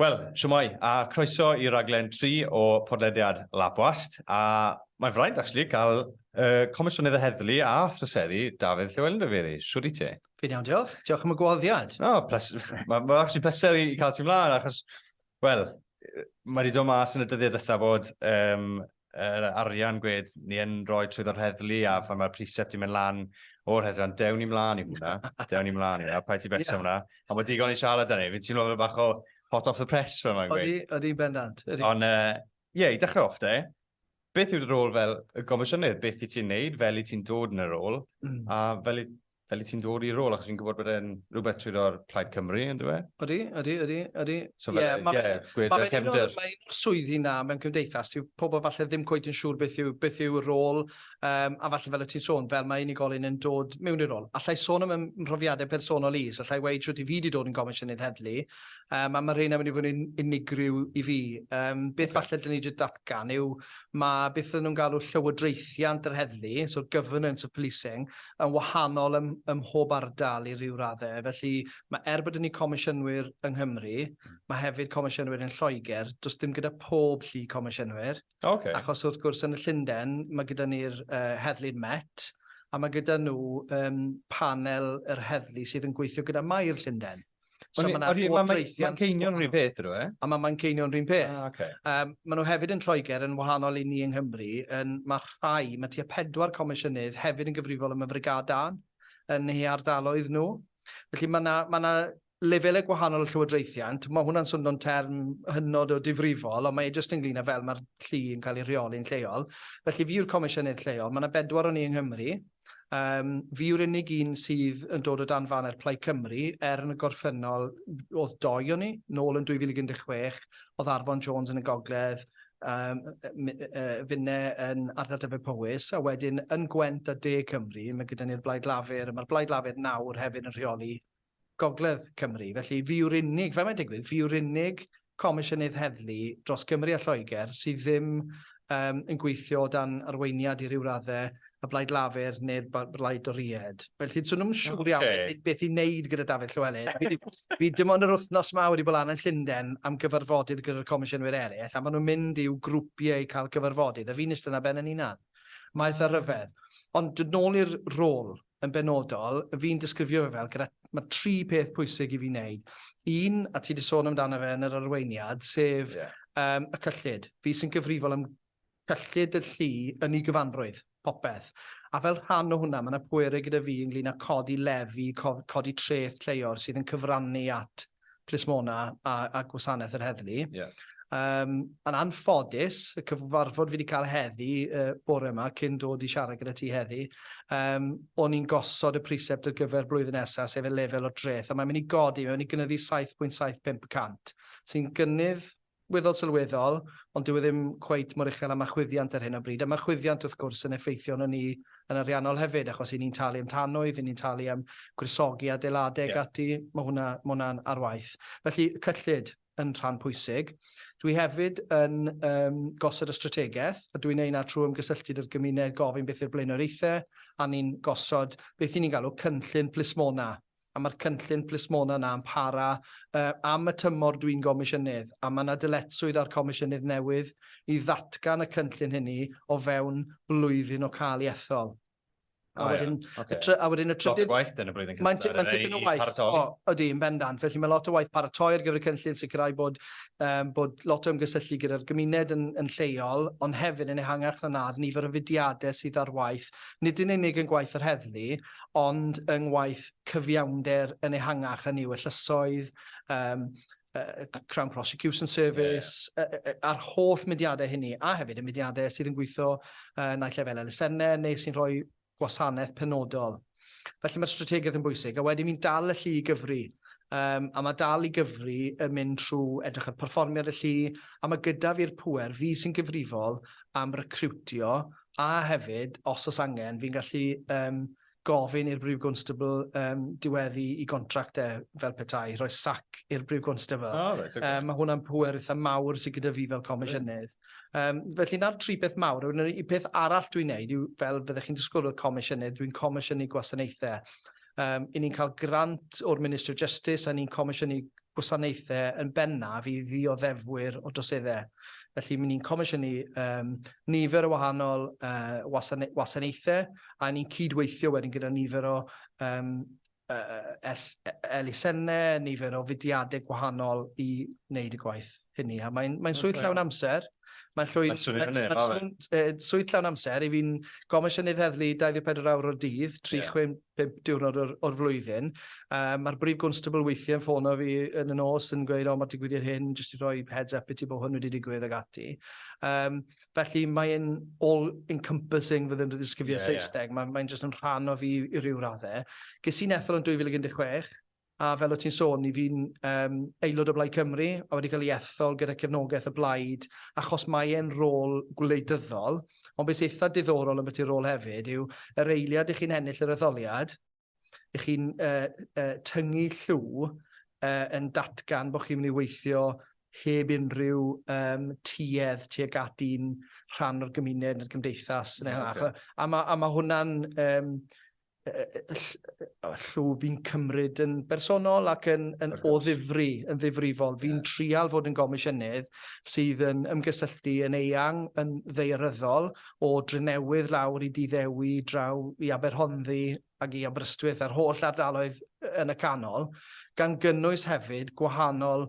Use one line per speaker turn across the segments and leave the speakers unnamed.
Wel, shwmae, a croeso i raglen 3 o podlediad Lab Wast, a mae'n fraint, actually, cael uh, Comisiynydd y Heddlu a Thryseri, Dafydd Llewellyn Dyfeiri. Siwr i ti? Fi'n iawn, diolch. Diolch
am y gwahoddiad. No, ples... mae'n ma
actually pleser i cael ti mlaen, achos Wel, mae wedi dod mas yn y dyddiau dytha bod um, yr arian gwed ni yn rhoi trwy ddod heddlu a phan mae'r precept di mynd lan o'r heddlu, ond dewn ni mlaen i hwnna, dewn ni mlaen i hwnna, pa i ti becso yeah. hwnna, a mae digon i siarad â ni, fi'n teimlo fel bach o hot off the press fel mae'n gweud. Oeddi, oeddi bendant.
Ond, ie, uh,
yeah, i dechrau off de, beth yw'r rôl fel y gomisiynnydd? Beth i ti'n neud? Fel i ti'n dod yn y rôl? Mm. A fel i fel i ti'n dod i'r rôl, achos fi'n gwybod bod e'n rhywbeth trwy roi'r Plaid Cymru, yn dweud? Ydy, ydy, ydy, ydy.
So fel, yeah, yeah,
yeah, gwed y cefnder. Mae un o'r swyddi na
mewn cymdeithas, yw pobl falle ddim cweith yn siŵr beth yw, beth yw y rôl, um, a falle fel y ti'n sôn, fel mae unigolyn yn dod mewn i'r rôl. Allai sôn am ymhrofiadau personol is, allai weid siwt i fi wedi dod yn gomisiynydd heddlu, um, a mae rheina wedi bod yn unigryw i fi. Um, beth okay. falle dyn ni wedi datgan yw, mae beth ydyn nhw'n galw llywodraethiant yr heddlu, so governance of policing, yn wahanol ym, ym mhob ardal i ryw raddau. Felly, mae er bod ni comisiynwyr yng Nghymru, hmm. mae hefyd comisiynwyr yn Lloegr, does dim gyda pob llu comisiynwyr. Okay. Achos wrth gwrs yn y Llundain, mae gyda ni'r uh, heddlu'n Met, a mae gyda nhw um, panel yr heddlu sydd yn gweithio gyda Mair Llundain. So mae yna llywodraethiant... Mae
Manceinion rhywun peth ydw e? A mae Manceinion rhywun peth.
Ah, okay. um, maen nhw hefyd yn Lloegr yn wahanol i ni yng Nghymru. Yn, mae rhai, mae tua pedwar comisiynydd hefyd yn gyfrifol am y frigad dan yn ei ardaloedd nhw. Felly mae yna ma lefelau gwahanol y llywodraethiant. Mae hwnna'n swnio'n term hynod o difrifol, ond mae e jyst ynglyn â fel mae'r llu yn cael ei rheoli'n lleol. Felly fi yw'r comisiynydd lleol. Mae yna bedwar o'n i yng Nghymru. Yym, fi yw'r unig un sydd yn dod o dan faner Plaid Cymru, er yn y gorffennol oedd doi o'n ni, nôl yn 2016, oedd Arfon Jones yn y gogledd, um, finne yn ardal Dyfed-Powys, a wedyn yn Gwent a De Cymru, mae gyda ni'r Blaid Lafur, a mae'r Blaid Lafur nawr hefyd yn rheoli Gogledd Cymru. Felly, fi yw'r unig, fel mae'n digwydd, fi yw'r unig Comisiynydd Heddlu dros Gymru a Lloegr sydd ddim um, yn gweithio dan arweiniad i ryw raddau y Blaid Lafur neu'r Blaid Doried. Felly, swn nhw'n siŵr iawn okay. beth, beth i wneud gyda Dafydd Llywelyn. fi, fi dim ond yr wythnos yma wedi bod lan yn Llundain am gyfarfodydd gyda'r comisiynwyr eraill, a maen nhw'n mynd i'w grwpiau i cael cyfarfodydd, a fi'n ystod na ben yn unan. Maeth a rhyfedd. Ond dod nôl i'r rôl, yn benodol, fi'n disgrifio fe fel gyda... ma' tri peth pwysig i fi wneud. Un, a ti 'di sôn amdano fe yn yr arweiniad, sef... Ie. ...yym, y cyllid. Fi sy'n gyfrifol am cyllid y llu yn ei gyfanrwydd, popeth. A fel rhan o hwnna, ma' 'na pwerau gyda fi ynglŷn â codi lefi, co- codi treth lleol sydd yn cyfrannu at plismona a, a gwasanaeth yr heddlu. Yeah. Um, yn anffodus, y cyfarfod fi wedi cael heddi uh, bore yma cyn dod i siarad gyda ti heddi, um, o'n i'n gosod y precept ar gyfer blwyddyn nesaf, sef y lefel o dreth, a mae'n mynd i godi, mae'n mynd i gynyddu 7.75%, sy'n gynnydd weddol sylweddol, ond dyw e ddim cweit mor uchel â ma' chwyddiant ar hyn o bryd, a ma' chwyddiant wrth gwrs yn effeithio arnon ni yn ariannol hefyd, achos 'yn ni'n talu am tanwydd, 'yn ni'n talu am gwresogi adeilade ac ati, ma' hwnna, ma' hwnna'n ar waith. Felly, y cyllid yn rhan pwysig. Dwi hefyd yn yym gosod y strategaeth, a dwi'n neud 'na trwy ymgysylltu 'da'r gymuned, gofyn beth yw'r blaenoriaethe, a ni'n gosod beth 'yn ni'n galw cynllun plismona. a mae'r cynllun plismona yna yn para am y tymor dwi'n gomisiynydd, a mae yna dyletswydd ar comisiynydd newydd i ddatgan y cynllun hynny o fewn blwyddyn o cael ei ethol. A wedyn, a wedyn y trydydd... Lot o waith dyn y blwyddyn cyntaf. Mae'n mae'n dipyn o waith. Paratoi. O, ydy, yn bendant. Felly mae lot o waith paratoi ar gyfer y cynllun, sicrhau bod, um, bod lot o ymgysylltu gyda'r gymuned yn, yn lleol, ond hefyd yn ehangach na na'r nifer o fudiadau sydd ar waith, nid yn unig yn gwaith yr heddlu, ond yng ngwaith cyfiawnder yn ehangach, hynny yw y llysoedd, um, uh, Crown Prosecution Service, yeah. uh, uh, a'r holl mudiadau hynny, a hefyd y mudiadau sydd yn gweithio uh, naill lefel elusennau neu sy'n rhoi gwasanaeth penodol. Felly mae'r strategaeth yn bwysig, a wedyn mi'n dal y llu i gyfri. Um, a mae dal i gyfri yn mynd trwy edrych ar perfformiad y llu, a mae gyda fi'r pwer, fi sy'n gyfrifol am recriwtio a hefyd, os oes angen, fi'n gallu um, gofyn i'r Brif Gwnstabl um, diweddu i gontract e fel petai, rhoi sac i'r Brif Gwnstabl. Oh, right, okay. um, mae hwnna'n pwer eitha mawr sydd gyda fi fel comisiynydd. Um, felly na'r tri peth mawr, y peth arall dwi'n neud yw fel fyddech chi'n disgwyl o'r comisiynydd, dwi'n comisiynu gwasanaethau. Um, I ni'n cael grant o'r Ministry of Justice a ni'n comisiynu gwasanaethau yn bennaf i ddioddefwyr o droseddau. Felly, mi ni'n comisiynu um, nifer o wahanol uh, wasanaethau a ni'n cydweithio wedyn gyda nifer o um, uh, elusennau, nifer o fudiadau gwahanol i wneud y gwaith. hynny, a mae'n mae swydd llawn amser. Mae'n llwyd... Mae'n swnio'n hynny, ma fe. Swydd llawn amser, i fi'n gomisiynydd heddlu 24 awr o'r dydd, 365 diwrnod o'r, or flwyddyn. Uh, Mae'r brif gwnstabl weithiau'n ffono fi yn y nos yn gweud, o, oh, mae digwyddiad hyn, jyst i roi heads up i ti bod hwn wedi digwydd ag ati. Um, felly mae'n all-encompassing fydd yn ddisgrifio yeah, Saesneg, yeah. mae'n mae just yn rhan o fi i ryw raddau. Ges i'n ethol yn 2016, A fel o't ti'n sôn, 'y fi'n yym aelod o Blaid Cymru a wedi cael ei ethol gyda cefnogaeth y blaid achos mae e'n rôl gwleidyddol, ond be sy eitha diddorol ambiti'r rôl hefyd yw yr eiliad 'ych chi'n ennill yr etholiad, 'ych chi'n yy yy tyngu llw yy yn datgan bo' chi'n mynd i weithio heb unrhyw yym tuedd tuag at un rhan o'r gymuned ne'r gymdeithas ne' hwnna. A ma' a ma' hwnna'n yym llw fi'n cymryd yn bersonol ac yn, yn o ddifri, yn ddifrifol. Fi'n yeah. trial fod yn gomisiynydd sydd yn ymgysylltu yn eang, yn ddeiryddol, o Drenewydd lawr i Diddewi, draw i Aberhonddu ac i Aberystwyth a'r holl ardaloedd yn y canol, gan gynnwys hefyd gwahanol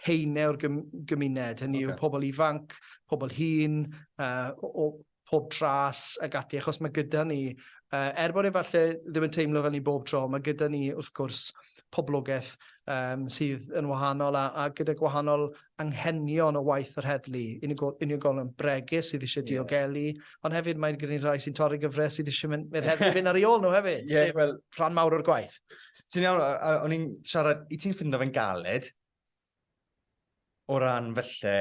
heine o'r gymuned, hynny okay. yw pobl ifanc, pobl hun, uh, o, pob tras ac ati, achos mae gyda ni, er bod e falle ddim yn teimlo fel ni bob tro, mae gyda ni wrth gwrs poblogaeth um, sydd yn wahanol a, a gyda gwahanol anghenion o waith yr heddlu, unigolion bregus sydd eisiau diogelu, yeah. ond hefyd mae'n gyda'n rhai sy'n torri gyfres sydd eisiau mynd i'r heddlu fynd ar ei ôl nhw hefyd, yeah, sef well, rhan mawr o'r gwaith. Ti'n iawn,
o'n i'n siarad, i ti'n ffindo fe'n galed, O ran felly,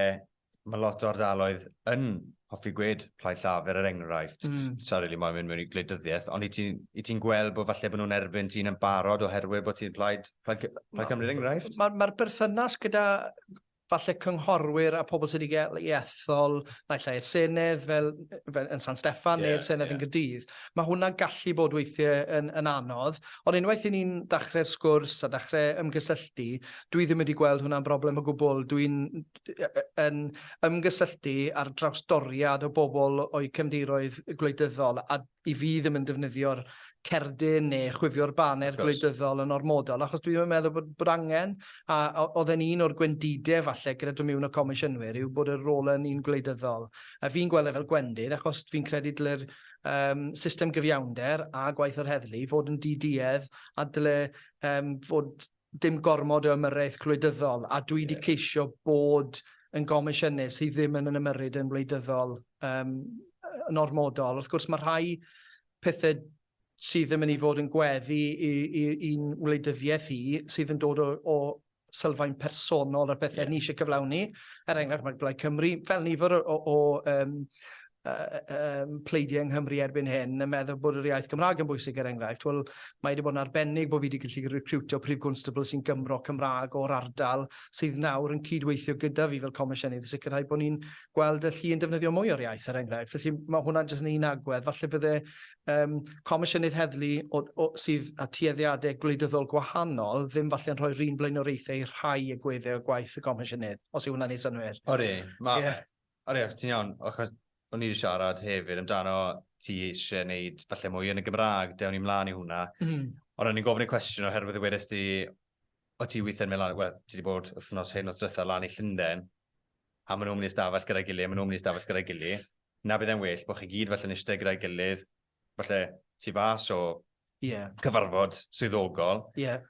mae lot o ardaloedd yn hoffi gwed Plaid Llafur er enghraifft. Mm. Sa'n rili moyn mynd mewn i gwleidyddiaeth, ond i ti'n i ti'n gweld bod falle bod nhw'n erbyn ti'n yn barod oherwydd bod ti'n Plaid Plaid Cy- Plaid Cymru er enghraifft? Mae'r ma berthynas
gyda falle cynghorwyr a pobl sydd wedi gael ei ethol naill ai i'r Senedd fel, fel yn San Steffan yeah, neu'r Senedd yeah. yn Gydydd. Mae hwnna'n gallu bod weithiau yn, yn anodd, ond unwaith i ni'n dachrau'r sgwrs a dachrau ymgysylltu, dwi ddim wedi gweld hwnna'n broblem o gwbl. Dwi'n yn ymgysylltu ar drawstoriad o bobl o'u cefndiroedd gwleidyddol a i fi ddim yn defnyddio'r cerdyn neu chwifio'r baner gwleidyddol yn ormodol achos dwi ddim yn meddwl bod, bod angen a oedd e'n un o'r gwendidau falle gyda dod mewn o comisiynwyr yw bod y rôl yn un gwleidyddol. A fi'n gweld e fel gwendid achos fi'n credu dylai'r um, system gyfiawnder a gwaith yr heddlu fod yn diduedd a dyle um, fod dim gormod o ymyrraeth gwleidyddol, a dwi 'di ceisio bod yn gomisiynus sydd ddim yn yn ymyrryd yn wleidyddol um, yn ormodol. Wrth gwrs, mae rhai pethau sydd yn mynd i fod yn gweddi i'n wleidyddiaeth i, sydd yn dod o, o sylfaen personol ar bethau yeah. ni eisiau cyflawni. Er enghraifft, mae Blaid Cymru, fel nifer o, o, o um, um, pleidiau yng Nghymru erbyn hyn yn meddwl bod yr iaith Gymraeg yn bwysig er enghraifft. Wel, mae wedi bod yn arbennig bod fi wedi gallu recrwtio prif gwnstabl sy'n Gymro Cymraeg o'r ardal sydd nawr yn cydweithio gyda fi fel comisiynydd i sicrhau bod ni'n gweld y llu yn defnyddio mwy o'r iaith er enghraifft. Felly mae hwnna'n jyst yn un agwedd. Falle fydde um, comisiynydd heddlu o, o, sydd â tueddiadau gwleidyddol gwahanol ddim falle yn rhoi'r un blaenoriaethau i'r rhai y gweddau o gwaith y comisiynydd, os yw hwnna'n ei synwyr. Ori, mae... Yeah.
O ie, ti'n iawn, achos o'n i wedi siarad hefyd amdano ti eisiau gwneud falle mwy yn y Gymraeg, dewn ni mlaen i hwnna. Mm. Ond o'n i'n gofyn y cwestiwn oherwydd y wedes ti, o ti weithio'n mynd lan, wel, ti wedi bod wythnos hyn o'r dretha lan i Llundain, a maen nhw'n mynd i stafell gyda'i gilydd, maen nhw'n mynd i stafell gyda'i gilydd. Na bydd e'n well bod chi gyd felly'n eistedd gyda'i gilydd, falle, tu fas o yeah. cyfarfod swyddogol. Yeah.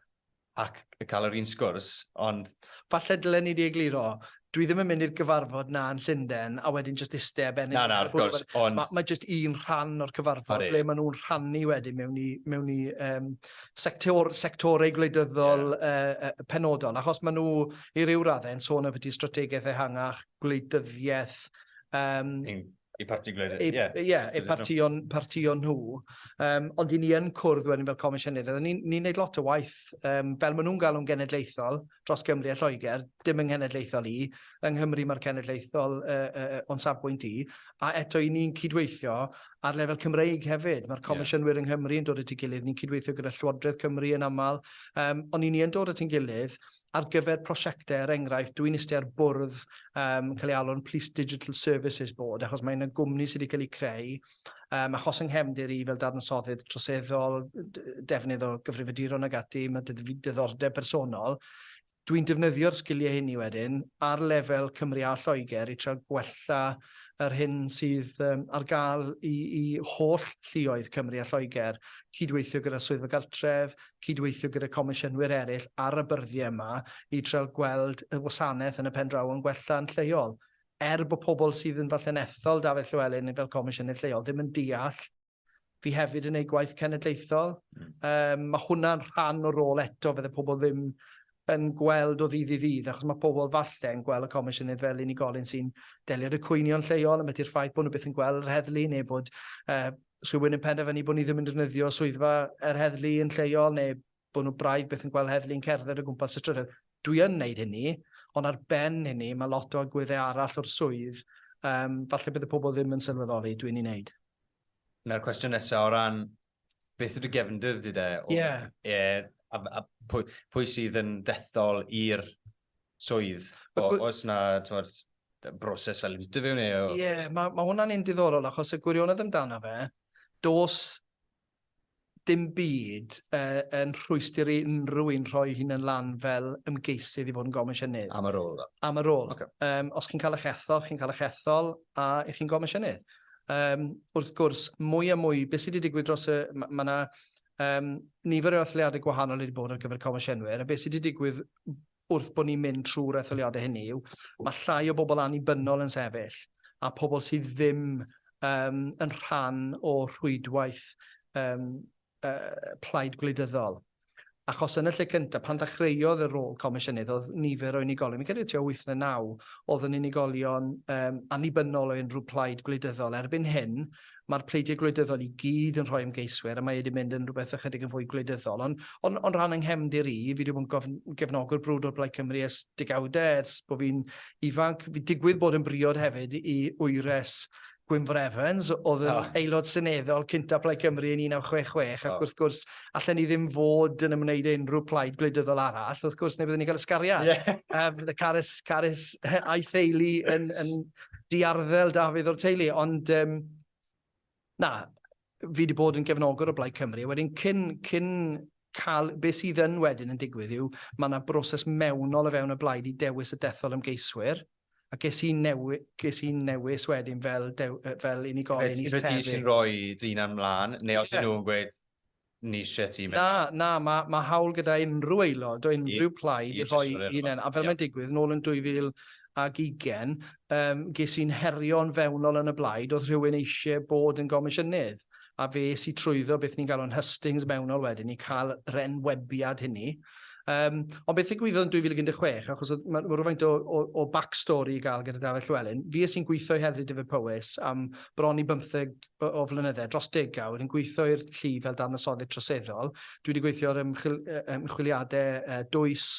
Ac cael yr un sgwrs, ond... Falle dylen ni
di egluro, dwi ddim yn mynd i'r gyfarfod na yn Llundain a wedyn just iste a benni. Na, na, wrth gwrs, ond... Mae
ma just un rhan
o'r cyfarfod ble maen nhw'n rhannu wedyn mewn i, mewn i um, sector, sectorau gwleidyddol yeah. uh, uh, penodol, achos maen nhw i ryw raddau yn sôn am beth i strategaeth ehangach, gwleidyddiaeth, um, I
parti gwleidyddion, ie. Yeah. Ie, yeah, eu partïon,
partïon nhw. Um, ond i ni yn cwrdd wedyn fel comisiynir, oedden ni'n ni wneud lot o waith, um, fel maen nhw'n galw'n genedlaethol, dros Gymru a Lloegr, dim yng nghenedlaethol i, yng Nghymru mae'r cenedlaethol uh, uh, o'n safbwynt i, a eto i ni'n cydweithio ar lefel Cymreig hefyd. Mae'r comisiynwyr yeah. yng Nghymru yn dod at ei gilydd, ni'n cydweithio gyda Llywodraeth Cymru yn aml, um, ond i ni yn dod at ein gilydd, ar gyfer prosiectau, er enghraifft, dwi'n iste ar bwrdd um, cael ei alw'n Police Digital Services Board, achos mae yna gwmni sydd wedi cael ei creu, um, achos yng nghefndir i fel darnasoddydd troseddol, defnydd o gyfrifiaduron ag ati, mae diddordeb personol. Dwi'n defnyddio'r sgiliau hynny wedyn ar lefel Cymru a Lloegr i trio gwella yr hyn sydd um, ar gael i, i holl llioedd Cymru a Lloegr, cydweithio gyda swyddfa gartref, cydweithio gyda comisiynwyr eraill ar y byrddie yma i trial gweld y wasanaeth yn y pen draw yn gwella yn lleol. Er bod pobl sydd yn falle'n ethol Dafydd Llywelyn fel comisiynydd lleol ddim yn deall fi hefyd yn ei gwaith cenedlaethol, um, mae hwnna'n rhan o'r rôl eto, fydde pobl ddim yn gweld o ddydd i ddydd, achos mae pobl falle yn gweld y comisiynydd fel unigolyn sy'n delio â cwynion lleol, yn beth i'r ffaith bod nhw byth yn gweld yr heddlu neu bod uh, rhywun yn penderfynu bod ni ddim yn defnyddio swyddfa yr heddlu yn lleol neu bod nhw braidd beth yn gweld heddlu'n cerdded o gwmpas y trydydd. Dwi yn wneud hynny, ond ar ben hynny mae lot o agweddau arall o'r swydd, um, falle bydd y pobl ddim yn sylweddoli, dwi'n ei wneud. Na'r cwestiwn
nesaf o ran beth yw'r gefndir di de? Ie. Yeah. E, a, a pwy, pwy sydd yn dethol i'r swydd, os na tywed, broses fel interview neu... Ie, yeah, mae ma hwnna'n un
diddorol achos y gwirionedd amdano fe, dos dim byd uh, yn rhwystr i unrhyw un rhoi hyn yn lan fel ymgeisydd i fod yn gomisiynydd. Am y rôl dda? Am y
rôl. Okay.
Um, os chi'n cael
eich
ethol, chi'n cael eich ethol a i chi'n gomisiynydd. Um, wrth gwrs, mwy a mwy, beth sydd wedi digwydd dros y... Mae ma yna um, nifer o athliadau gwahanol wedi bod ar gyfer comisiynwyr, a beth sydd wedi digwydd wrth bod ni'n mynd trwy'r etholiadau hynny yw, mae llai o bobl annibynnol yn sefyll, a pobl sydd ddim um, yn rhan o rhwydwaith um, uh, plaid gwleidyddol. Achos yn y lle cyntaf, pan ddechreuodd y rôl comisiynydd, oedd nifer o unigolion, mi'n credu tua 8 neu 9, oedd yn unigolion um, annibynnol o unrhyw plaid gwleidyddol. Erbyn hyn, ma'r pleidiau gwleidyddol i gyd yn rhoi ymgeiswyr a mae wedi mynd yn rhywbeth ychydig yn fwy gwleidyddol. Ond on, on rhan yng nghefndir i, fi wedi bod yn gefnogwr brwd o'r Blaid Cymru ers degawdau, ers bod fi'n ifanc. Fi digwydd bod yn briod hefyd i wyres Gwynfor Evans, oedd yn oh. aelod seneddol cynta Plaid Cymru yn 1966, ac oh. wrth gwrs, allan ni ddim fod yn ymwneud unrhyw plaid gwleidyddol arall, wrth gwrs, neu byddwn ni'n cael ysgariad. Yeah. Um, Carys, Carys a'i theulu yn, yn, diarddel Dafydd o'r teulu, ond um, na, fi wedi bod yn gefnogwr o Blaid Cymru, a wedyn cyn, cyn cael, beth sydd yn wedyn yn digwydd yw, mae yna broses mewnol o fewn y blaid i dewis y dethol ymgeiswyr, a ges i, newi, ges i newis wedyn fel, dew, fel unigolyn i sefyll. Fe sy'n rhoi
dyn am mlaen, neu os yeah. nhw'n gweud, ni isie ti fynd. Na, na, mae ma hawl
gyda unrhyw aelod o unrhyw plaid i roi hunain, a fel mae'n digwydd, nôl yn 2020, um, ges i'n herio'n fewnol yn y blaid, oedd rhywun eisiau bod yn gomisiynydd, a fe si trwyddo beth ni'n galw'n hustings mewnol wedyn, i cael yr enwebiad hynny, Um, ond beth ddigwyddodd yn 2016, achos mae ma rhywfaint o, o, o backstory i gael gyda Dafydd Llywelyn, fi ys i'n gweithio i Heddlu Dyfed Powys am bron i bymtheg o, o flynyddau, dros degawd, yn gweithio i'r llu fel darnasoddyd troseddol. Dwi wedi gweithio ar ymchwil, ymchwiliadau uh, dwys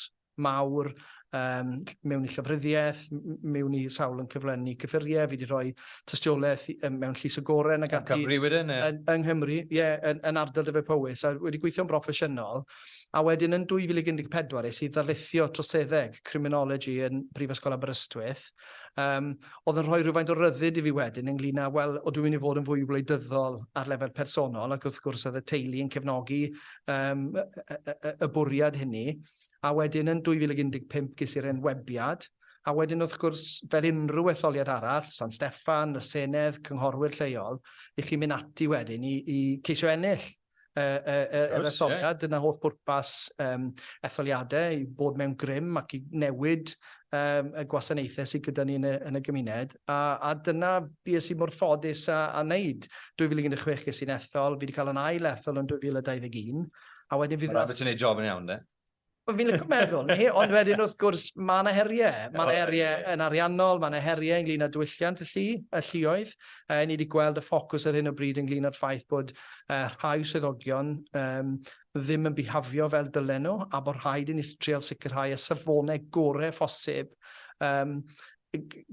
mawr um, mewn i llyfryddiaeth, mewn i sawl yn cyflenni cyffuriau, fi wedi rhoi tystiolaeth um, mewn llys y goren ac ati. Yn Cymru wedyn? Yn, yng Nghymru, ie, yeah, yn, yn ardal Dyfed Powys. A wedi gweithio'n broffesiynol, a wedyn yn 2014 es i ddarlithio troseddeg, criminology, yn Brifysgol Aberystwyth. Um, oedd yn rhoi rhywfaint o ryddid i fi wedyn ynglyn â, wel, o dwi'n mynd i fod yn fwy wleidyddol ar lefel personol, ac wrth gwrs oedd y teulu yn cefnogi um, y, y, y, y bwriad hynny. A wedyn yn 2015 ges i'r enwebiad, a wedyn wrth gwrs, fel unrhyw etholiad arall, San Steffan, y Senedd, cynghorwyr lleol, i chi mynd ati wedyn i, i ceisio ennill. yr etholiad. Yeah. Dyna holl bwrpas um, etholiadau, i bod mewn grym ac i newid um, y gwasanaethau sydd gyda ni yn y, yn y gymuned. A, a dyna beth sy'n mor ffodus a, a wneud. 2016 ges i'n ethol, fi wedi cael yn ail
ethol
yn 2021, a wedyn
fydd... Mae'n
rhaid bod ti'n
gwneud
job yn iawn,
de?
Fi'n licio meddwl, ni, ond wedyn wrth gwrs, mae yna heriau. Mae yna heriau yn ariannol, mae yna heriau ynglyn â diwylliant y llu, y lluoedd. Uh, ni wedi gweld y ffocws ar hyn o bryd ynglyn â'r ffaith bod uh, rhai swyddogion um, ddim yn bihafio fel dylen nhw, a bod rhaid i ni treol sicrhau y safonau gorau phosib um,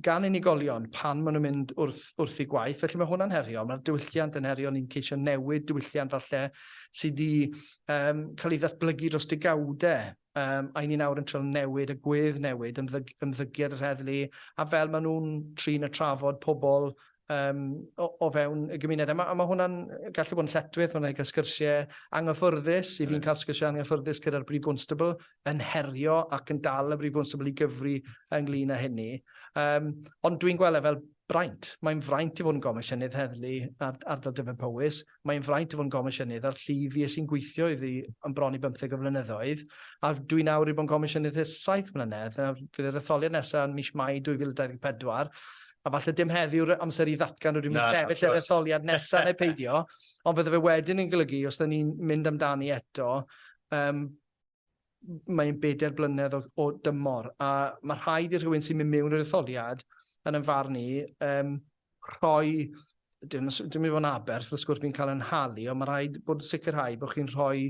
gan unigolion pan maen nhw'n mynd wrth, wrth i gwaith, felly mae hwnna'n heriol. Mae'r diwylliant yn heriol, ni'n ceisio newid diwylliant falle sydd wedi um, cael ei ddatblygu dros digawdau um, a ni'n awr yn trio newid y gwedd newid, ymddyg, ymddygiad yr heddlu, a fel maen nhw'n trin y trafod pobl um, o, o fewn y gymuned. A mae ma hwnna'n gallu bod yn lletwyth, mae'n cael sgyrsiau anghyffyrddus, i fi'n cael sgyrsiau anghyffyrddus gyda'r Brif Bwnstable yn herio ac yn dal y Brif Bwnstable i gyfri ynglyn â hynny. Um, ond dwi'n gweld e fel braint. Mae'n fraint i fod yn gomisiynydd heddlu ar ardal Dyfed Powys. Mae'n fraint o fod yn Gomisiynydd a'r llu fues i'n gweithio iddi yn bron i bymtheg o flynyddoedd, a dwi nawr wedi bod yn Gomisiynydd ers saith mlynedd. Nawr, fydd yr etholiad nesaf yn mis Mai 2024, a falle dim heddi yw'r amser i ddatgan rydw i'n mynd i sefyll ar yr etholiad nesaf neu peidio, ond fydde fe wedyn yn golygu, os 'da ni'n mynd amdani eto, yym, mae'n bedair blynedd o, o dymor, a mae rhaid i rhywun sy'n mynd mewn i'r etholiad, yn yn farn ni, um, rhoi dim, dim i fod yn aberth, wrth gwrs, fi'n cael yn halu, ond mae rhaid bod yn sicrhau bod chi'n rhoi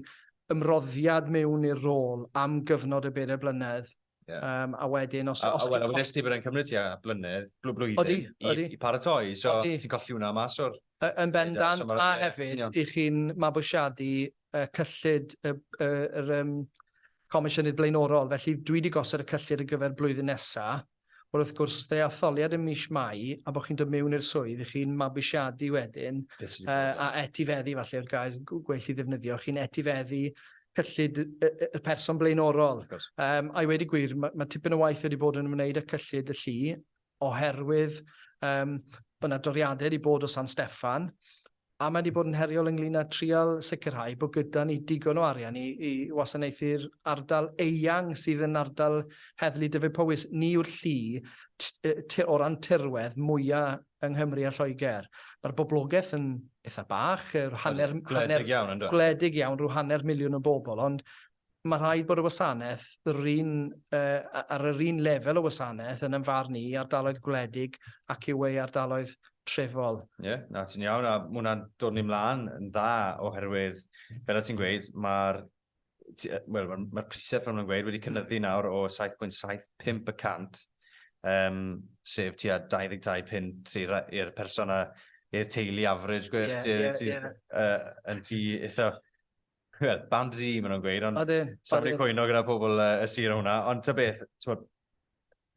ymroddiad mewn i'r rôl am gyfnod y bedair blynedd Yeah. Um, a wedyn, os... A, os a wel, wedyn ysdi bod e'n
cymryd ti a blynedd, blw blwyddyn, odi, odi. i, i paratoi, so odi. ti'n colli hwnna mas o'r... Yn bendant, so
a hefyd, yeah. i chi'n mabwysiadu uh, cyllid y, y, y, um, comisiynydd blaenorol, felly dwi wedi gosod y cyllid ar gyfer blwyddyn nesaf, Wel, wrth gwrs, os dde atholiad yn mis Mai, a bod chi'n dod mewn i'r swydd, i chi'n mabwysiadu wedyn, uh, a etifeddu, falle, o'r gair gwell i ddefnyddio, chi'n etifeddu cyllid y person blaenorol. Um, I wedi gwir, mae, mae tipyn o waith wedi bod yn ymwneud â cyllid y llu oherwydd um, bod yna doriadau wedi bod o San Steffan a mae wedi bod yn heriol ynglyn â trial sicrhau bod gyda ni digon o arian i, i wasanaethu'r ardal eang sydd yn ardal heddlu Dyfed Powys. Ni yw'r llu o ran tirwedd mwyaf yng Nghymru a Lloegr. Mae'r boblogaeth yn eitha bach, yr hanner... Gwledig iawn, ynddo? Gwledig iawn, rhyw hanner miliwn o bobl, ond mae rhaid bod y wasanaeth yr un, uh, ar yr un lefel o wasanaeth yn ymfarn i ardaloedd gwledig ac yw ei ardaloedd trefol. Ie, yeah, na ti'n
iawn, a mwna'n dod ni mlaen yn dda oherwydd, fel y ti'n gweud, mae'r wel, mae'r ma prisau fel mae'n gweud wedi cynnyddu nawr o 7.75 y cant, um, sef tua 22 pint i'r person a i'r teulu average gwir, yeah, yeah, ti, yeah. Uh, yn ti eitha Wel, band Z, maen nhw'n gweud, ond safri cwyno gyda pobl uh, y sir o hwnna. Ond ta beth, bod,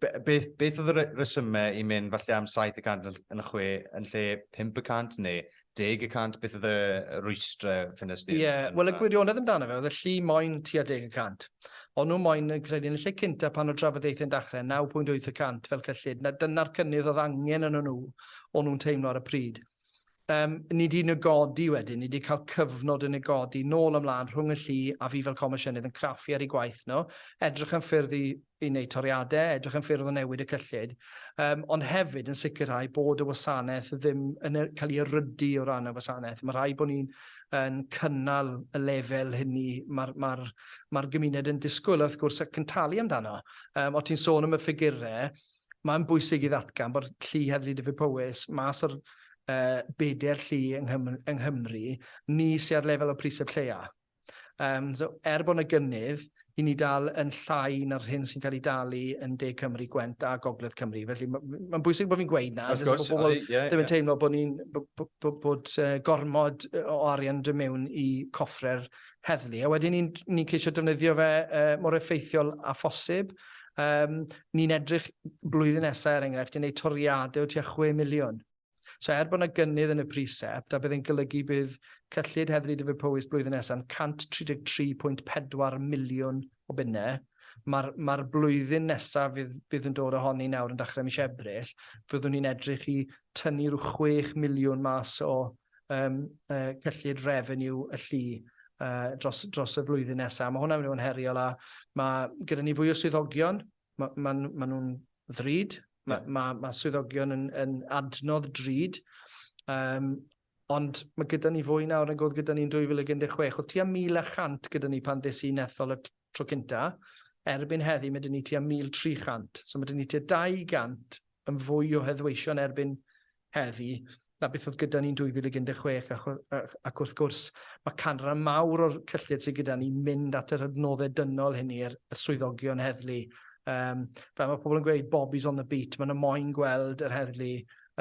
Be, beth, beth oedd y resymau i mynd falle am 7 y cant yn y chwe yn lle 5 y cant neu 10 y cant? Beth oedd y rwystrau ffynus ni? Ie, yeah, wel y gwirionedd
amdano fe oedd y llu moyn tua 10 y cant. Ond nhw moyn yn credu yn y lle cynta pan oedd drafodaethau'n dachrau 9.8 y cant fel cyllid, na dyna'r cynnydd oedd angen yn nhw o'n nhw'n teimlo ar y pryd. Yym, ni 'di negodi wedyn, ni 'di cael cyfnod yn negodi nôl a mlân rhwng y llu a fi fel Comisiynydd yn craffu ar eu gwaith nhw, edrych am ffyrdd i i wneud toriadau, edrych am ffyrdd o newid y cyllid, um, ond hefyd yn sicrhau bod y wasanaeth ddim yn e- cael ei erydu o ran y wasanaeth. Mae rhaid bod ni'n yn cynnal y lefel hynny mae'r ma ma gymuned yn disgwyl, wrth gwrs, ac yn talu amdano. Um, o ti'n sôn am y ffigurau, mae'n bwysig i ddatgan bod llu Heddlu Dyffryn Powys mas o'r uh, bedair llu yng, Nghymru, yng Nghymru, ni sy'n ar lefel o priseb lleia. Um, so, er bod yna gynnydd, i ni dal yn llai na'r hyn sy'n cael ei dalu yn De Cymru, Gwent a Gogledd Cymru. Felly mae'n ma bwysig bod fi'n gweud na, jyst bod pobl ddim yn yeah. teimlo bod ni'n bod, bod, bod uh, gormod o arian dod mewn i coffre'r heddlu, a wedyn ni'n ni ceisio defnyddio fe uh, mor effeithiol a phosib. Um, ni'n edrych blwyddyn nesaf, er enghraifft, i wneud toriadau o tua 6 miliwn. So er bod yna gynnydd yn y precept, a bydd yn golygu bydd cyllid heddlu Dyfed Powys blwyddyn nesaf yn 133.4 miliwn o bunnau, mae'r ma blwyddyn nesaf fydd, bydd yn dod ohoni nawr yn dechrau mis Ebrill, fyddwn ni'n edrych i tynnu rhyw 6 miliwn mas o um, uh, cyllid revenue y llu uh, dros, dros y flwyddyn nesaf. Mae hwnna'n mynd i fod yn heriol a mae gyda ni fwy o swyddogion, mae ma, ma, ma nhw'n ddrud, mae yeah. ma, ma swyddogion yn, yn adnodd drud, um, ond mae gyda ni fwy nawr yn gwrdd gyda ni'n 2016. Oedd tua 1100 gyda ni pan ddys i'n ethol y tro cynta, erbyn heddi mae dyn ni tua 1300, so mae dyn ni tua 200 yn fwy o heddweision erbyn heddi na beth oedd gyda ni yn 2016 ac wrth gwrs mae canran mawr o'r cyllid sydd gyda ni'n mynd at yr adnoddau dynol hynny yr swyddogion heddlu. Um, fel mae pobl yn gweud, Bobby's on the beat, mae'n moyn gweld yr heddlu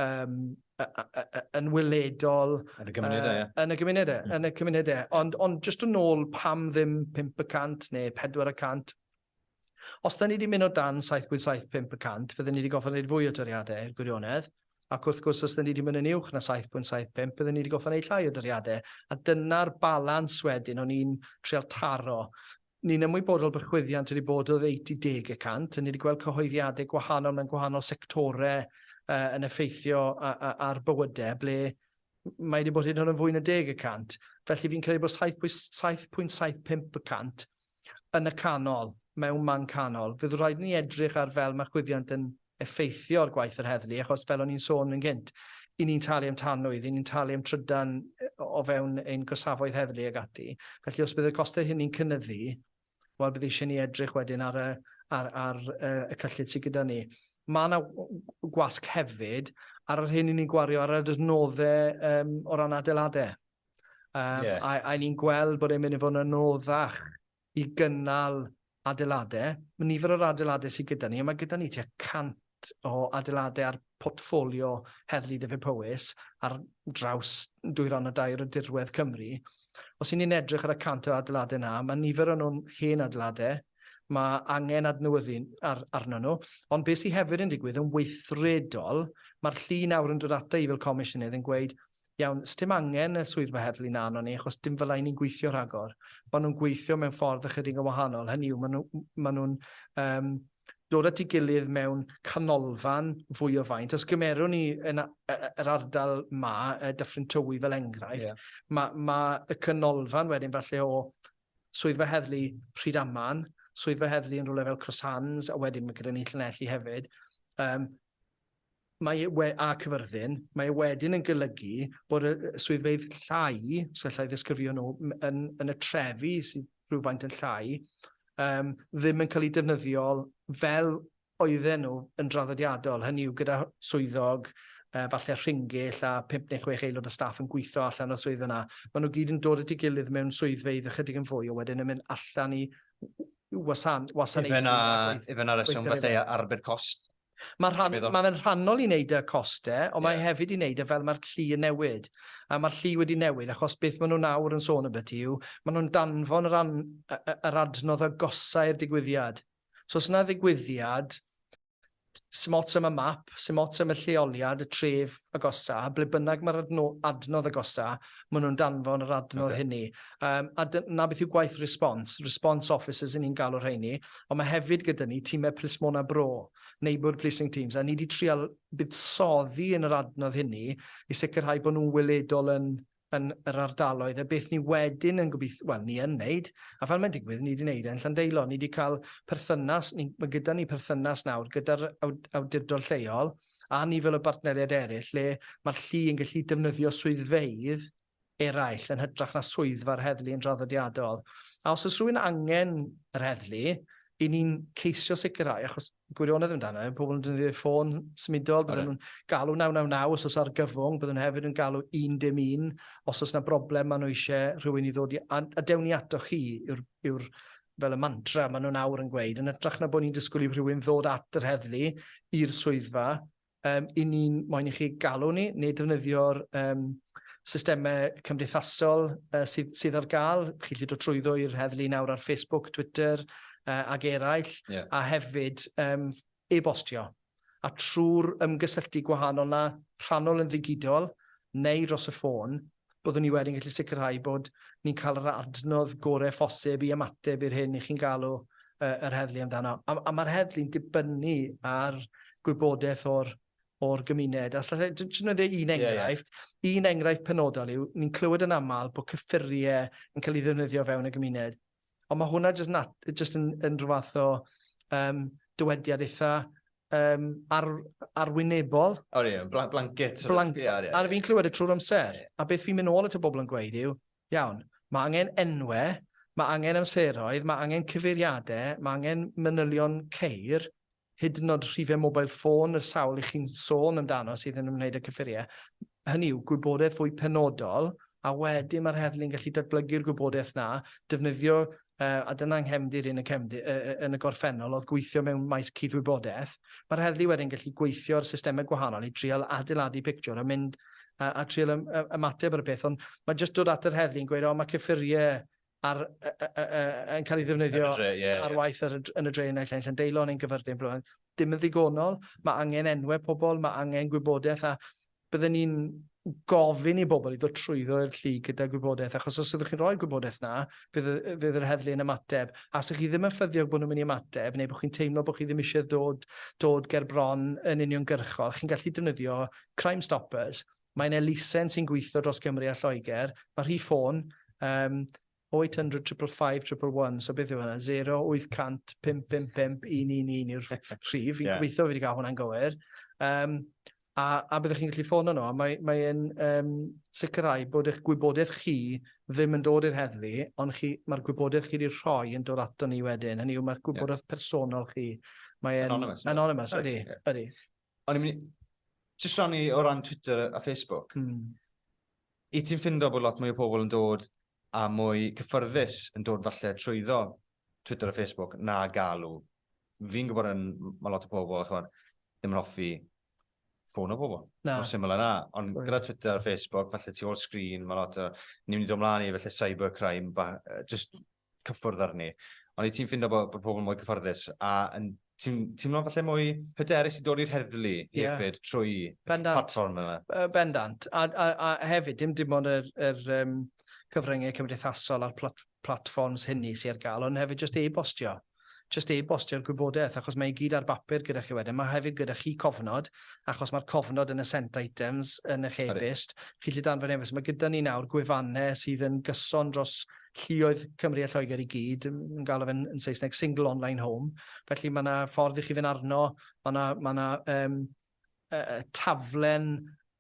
um, yn wyledol yn y gymunedau,
uh, yn y gymunedau, mm. yn y
cymunedau. Ond, ond jyst yn ôl pam ddim 5% neu 400 Os da ni di mynd o dan 7.75 y cant, bydden ni di gorfod neud fwy o doriade, i'r gwirionedd, ac wrth gwrs os da ni di mynd yn uwch na 7.75 bydden ni di gorfod neud llai o doriade, a dyna'r balans wedyn o'n i'n trial taro. Ni'n ymwybodol bod chwyddiant wedi bod oddeutu deg y cant, a ni di gweld cyhoeddiade gwahanol mewn gwahanol sectore yy yn effeithio a- a- ar bywyde ble m- mae di bod hyd yn oed yn fwy na deg y cant. Felly fi'n credu bod 7.75 y cant Yn y canol, mewn man canol, fydd rhaid i ni edrych ar fel mae chwyddiant yn effeithio ar gwaith yr heddlu, achos fel o'n i'n sôn yn gynt, i ni'n talu am tanwydd, i ni'n talu am trydan o fewn ein gorsafoedd heddlu ac ati. Felly os bydd y costau hynny'n cynyddu, wel bydd eisiau ni edrych wedyn ar y, ar, ar, uh, y cyllid sydd gyda ni. Mae yna gwasg hefyd ar yr hyn i ni'n gwario ar yr adnoddau um, o ran adeiladau. Um, yeah. A, a ni'n gweld bod e'n mynd i fod yn anoddach i gynnal adeiladau. Mae nifer o'r adeiladau sydd gyda ni, a mae gyda ni tua 100 o adeiladau ar portfolio Heddlu Dyfed Powys ar draws dwy ran o dair o dirwedd Cymru. Os y'n ni'n edrych ar y 100 o adeiladau yna, mae nifer o'n nhw'n hen adeiladau, mae angen adnewyddu ar, arno nhw. Ond beth sydd hefyd yn digwydd yn weithredol, mae'r llu nawr yn dod ata i fel comisiynydd yn gweud, Iawn, sdim angen y swyddfa heddlu 'na arnon ni, achos dim fel 'na 'yn ni'n gweithio rhagor. Ma' nhw'n gweithio mewn ffordd ychydig yn wahanol, hynny yw, ma' nhw, ma' nhw'n um, dod at ei gilydd mewn canolfan fwy o faint. Os gymerwn ni yn yr ardal ma, Dyffryn Tywi fel enghraifft, yeah. mae ma y canolfan wedyn falle o swyddfa heddlu Rhydaman, swyddfa heddlu yn rhywle fel Crosshands, a wedyn mae gyda ni Llanelli hefyd. Um, mae we, a cyfyrddin, mae e wedyn yn golygu bod y swyddfeydd llai, so llai ddisgrifio nhw, yn, yn y trefi sydd rhywfaint yn llai, um, ddim yn cael eu defnyddiol fel oedden nhw yn draddodiadol. Hynny yw gyda swyddog, uh, falle rhingill a 5 neu 6 aelod o staff yn gweithio allan o'r swydd yna. Mae nhw gyd yn dod at ei gilydd mewn swyddfeydd ychydig yn fwy, o wedyn yn mynd allan i wasan, wasanaethu. Ife na reswm falle
arbed cost? Mae rhan... Meddwl. ...mae
fe'n rhannol i wneud y coste, ond mae e hefyd i wneud e fel mae'r llu yn newid. A mae'r llu wedi newid achos beth maen nhw nawr yn sôn ambyti yw, maen nhw'n danfon yr, an, yr adnodd agosau i'r digwyddiad. So os yna ddigwyddiad, sy'n ots am y map, sy'n ots am y lleoliad, y tref agosa, ble bynnag mae'r adno, adnodd agosa, maen nhw'n danfon yr adnodd okay. hynny. Um, a na beth yw gwaith response, response officers yn ni'n galw rheini, ond mae hefyd gyda ni timau plismona bro, neighbourhood policing teams, a ni wedi trial buddsoddi yn yr adnodd hynny i sicrhau bod nhw'n weledol yn yn yr ardaloedd, a beth ni wedyn yn gobeithio, wel, ni yn wneud, a fel mae'n digwydd, ni wedi wneud e yn Llandeilo. Ni wedi cael perthynas, ni, mae gyda ni perthynas nawr gyda'r awdurdod lleol a nifer o bartneriaid eraill le mae'r llu yn gallu defnyddio swyddfeydd eraill yn hytrach na swyddfa'r heddlu yn draddodiadol. A os oes rhywun angen yr heddlu, i ni'n ceisio sicrhau, achos gwirionedd amdano, e, pobl yn defnyddio ffôn symudol, byddwn nhw'n galw 999 os oes argyfwng, byddwn nhw hefyd yn galw 111 os oes yna broblem maen nhw eisiau rhywun i ddod i, a, a dewn ni ato chi yw'r, yw fel y mantra maen nhw'n awr yn gweud, yn ytrach na bod ni'n disgwyl i rhywun ddod at yr heddlu i'r swyddfa, Yym, i ni'n moyn i chi galw ni neu defnyddio'r um, systemau cymdeithasol uh, sydd, sydd ar gael. Chi'n gallu dod trwyddo i'r heddlu nawr ar Facebook, Twitter uh, ac eraill, yeah. a hefyd um, e-bostio. A trwy'r ymgysylltu gwahanol na rhannol yn ddigidol neu dros y ffôn, byddwn ni wedyn gallu sicrhau bod ni'n cael yr adnodd gorau phosib i ymateb i'r hyn i chi'n galw yr heddlu amdano. A, a mae'r heddlu'n dibynnu ar gwybodaeth o'r o'r gymuned. Os allai jyst defnyddio un enghraifft, yeah, yeah. un enghraifft penodol yw, ni'n clywed yn aml bod cyffuriau yn cael ei ddefnyddio fewn y gymuned. Ond mae hwnna jyst, nat, jyst yn, yn rhyw fath o um, dywediad eitha um, ar, arwynebol. O, ie, bl blanket.
Blanket. Yeah, yeah, yeah. A
fi'n clywed y trwy'r amser. Yeah. A beth fi'n mynd ôl at y bobl yn gweud yw, iawn, mae angen enwau, mae angen amseroedd, mae angen cyfeiriadau, mae angen manylion ceir, hyd yn nod rhifau mobail ffôn yr sawl i chi'n sôn amdano sydd yn ymwneud â cyffuriau, hynny yw, gwybodaeth fwy penodol, a wedyn mae'r heddlu'n gallu datblygu'r gwybodaeth na, defnyddio, uh, a dyna nghefndir yn y, cefndir, uh, yn y gorffennol oedd gweithio mewn maes cudd-wybodaeth, mae'r heddlu wedyn gallu gweithio ar systemau gwahanol i trial adeiladu pictiwr a mynd a, a trial ymateb ar y peth, ond mae jyst dod at yr heddlu'n gweud, o, mae cyffuriau ar, yn cael ei ddefnyddio ar, dre, yeah, ar waith ar, yn y dre yn Naill yn deilo yn ein gyfyrddin. Blywan. Dim yn ddigonol, mae angen enwau pobl, mae angen gwybodaeth a byddwn ni'n gofyn i bobl i ddod trwyddo i'r llu gyda gwybodaeth, achos os ydych chi'n rhoi gwybodaeth na, fydd, fydd yr heddlu yn ymateb. A os ydych chi ddim yn ffyddiog bod nhw'n mynd i ymateb, neu bod chi'n teimlo bod chi ddim eisiau dod, dod ger bron yn uniongyrchol, chi'n gallu defnyddio Crime Stoppers, Mae'n elusen sy'n gweithio dros Gymru a Lloegr. Mae rhif ffôn, um, 0800 555 111, so beth yw hwnna? 0800 555 111 yw'r rhif. Fi'n yeah. gobeithio fi wedi cael hwnna'n gywir. Um, a, a byddwch chi'n gallu ffono nhw. Mae'n mae um, sicrhau bod eich gwybodaeth chi ddim yn dod i'r heddlu, ond mae'r gwybodaeth chi wedi rhoi yn dod ato ni wedyn. Hynny yw, mae'r gwybodaeth yeah. personol chi. Mae'n anonymous. Anonymous, ydy. Yeah. ydy. O'n i'n mynd
i... Jyst rhannu o ran Twitter a Facebook. Mm. I ti'n ffindo bod lot mwy o pobl yn dod a mwy cyffyrddus yn dod falle trwyddo Twitter a Facebook na galw. Fi'n gwybod yn, mae lot o pobl, chwan, ddim yn hoffi ffôn o bobl. Na. Mor syml yna. Ond Sorry. gyda Twitter a Facebook, falle tu ôl sgrin, mae lot o... Ni'n mynd i ddod mlaen i falle cybercrime, ba, just cyffwrdd arni. Ond i ti'n ffindo bod, bod pobl mwy cyfforddus a yn ti'n teimlo'n falle mwy hyderus i dod i'r heddlu yeah. hefyd trwy Bendant. platform yma? Uh, bendant. A,
a, a hefyd, dim dim ond yr, yr um, cyfryngau cymdeithasol a'r plat, platforms hynny sy'n ar gael, ond hefyd jyst e-bostio. Jyst e-bostio'r gwybodaeth achos mae e gyd ar bapur gyda chi wedyn. Mae hefyd gyda chi cofnod, achos mae'r cofnod yn y sent items yn eich e-byst. Chi'n gallu danfon e-byst. Mae gyda ni nawr gwefannau sydd yn gyson dros lluoedd Cymru a Lloegr i gyd. Yn galw fe'n yn Saesneg single online home. Felly mae yna ffordd i chi fynd arno. Mae yna, mae yna um, uh, taflen